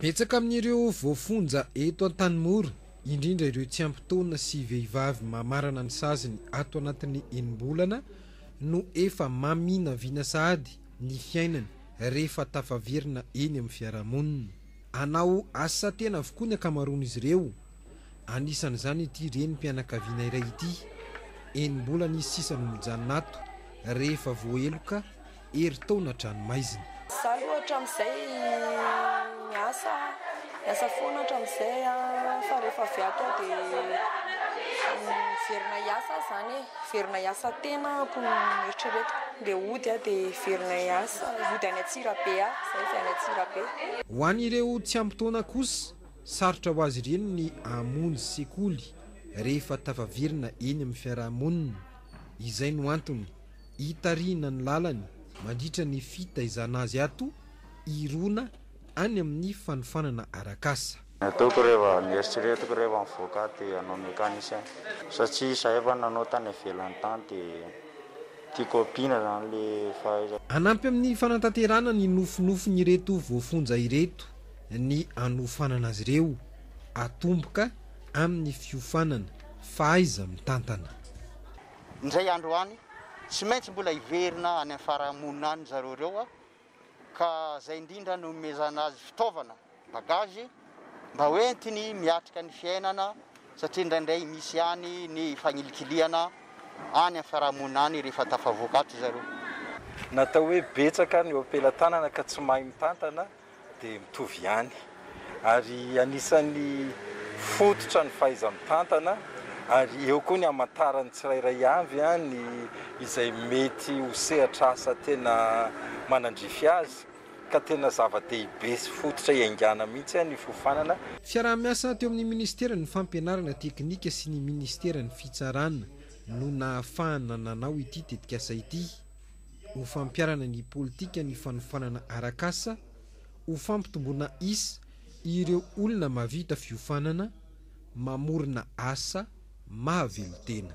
Betsaka amin'ireo voafonja eto Antanimora, indrindra ireo tsy ampy taona sy vehivavy mamarana ny saziny ato anatin'ny enim-bolana no efa maminavina sahady ny fiainany rehefa tafaverina eny amin'ny fiarahamonina. Anao asa tena avokoa ny ankamaroan'izy ireo, anisan'izany ity renim-pianakaviana iray ity. Enim-bolana izy sisa no mijanona ato rehefa voaheloka. Herintaona an-tranomaizina. Izaho aloha hatramin'izay miasa, miasa foana hatramin'izay fa rehefa avy ato aho dia miverina hiasa aho izany e, miverina hiasa tena hono ny eritreretiko, dia hody aho dia hiverina hiasa, hody any Antsirabe aho, izaho avy any Antsirabe. Ho an'ireo tsy ampy taona kosa, sarotra ho azy ireny ny hamonjy sekoly rehefa tafaverina eny amin'ny fiarahamonina. Izay no antony Hitarihina ny lalany mandritra ny fitaizana azy ato hirona any amin'ny fanofanana arak'asa. Ny ataoko rehefa, ny eritreretiko rehefa mivoaka ato dia hanao mécanicien satria izahay efa nanao tany ivelany tany dia tiako hampiana izany ilay fahaizako. Hanampy amin'ny fanatanterahana ny nofinofin'ireto voafonja ireto ny hanofanana azy ireo hatomboka amin'ny fiofanana, fahaiza-mitantana. Indray andro any, tsy maintsy mbola hiverina any amin'ny farahamonina any zareo ireo, ka izay indrindra no nomezana azy fitaovana, bagage, mba ho entiny miatrika ny fiainana, satria indraindray misy ihany ny fagnilikilihana any amin'ny farahamonina any rehefa tafavoaka ato zareo. Natao hoe betsaka ny eo am-pelatanana ka tsy mahay mitantana dia mitovy ihany ary anisan'ny fototra ny fahaiza-mitantana ary eo koa ny hamantaran'ny tsirairay avy ny izay mety ho sehatr'asa tena manandrify azy ka tena zava-dehibe sy fototra iaingana mihitsy ny fiofanana Fiaraha-miasa teo amin'ny Ministeran'ny Fampianarana Teknika sy ny Ministeran'ny Fitsarana no nahafahana nanao ity tetikasa ity. ho fampiharana ny politikan'ny fanofanana arak'asa, ho fampitomboana isa ireo olona mahavita fiofanana, mamorona asa mahavelon-tena.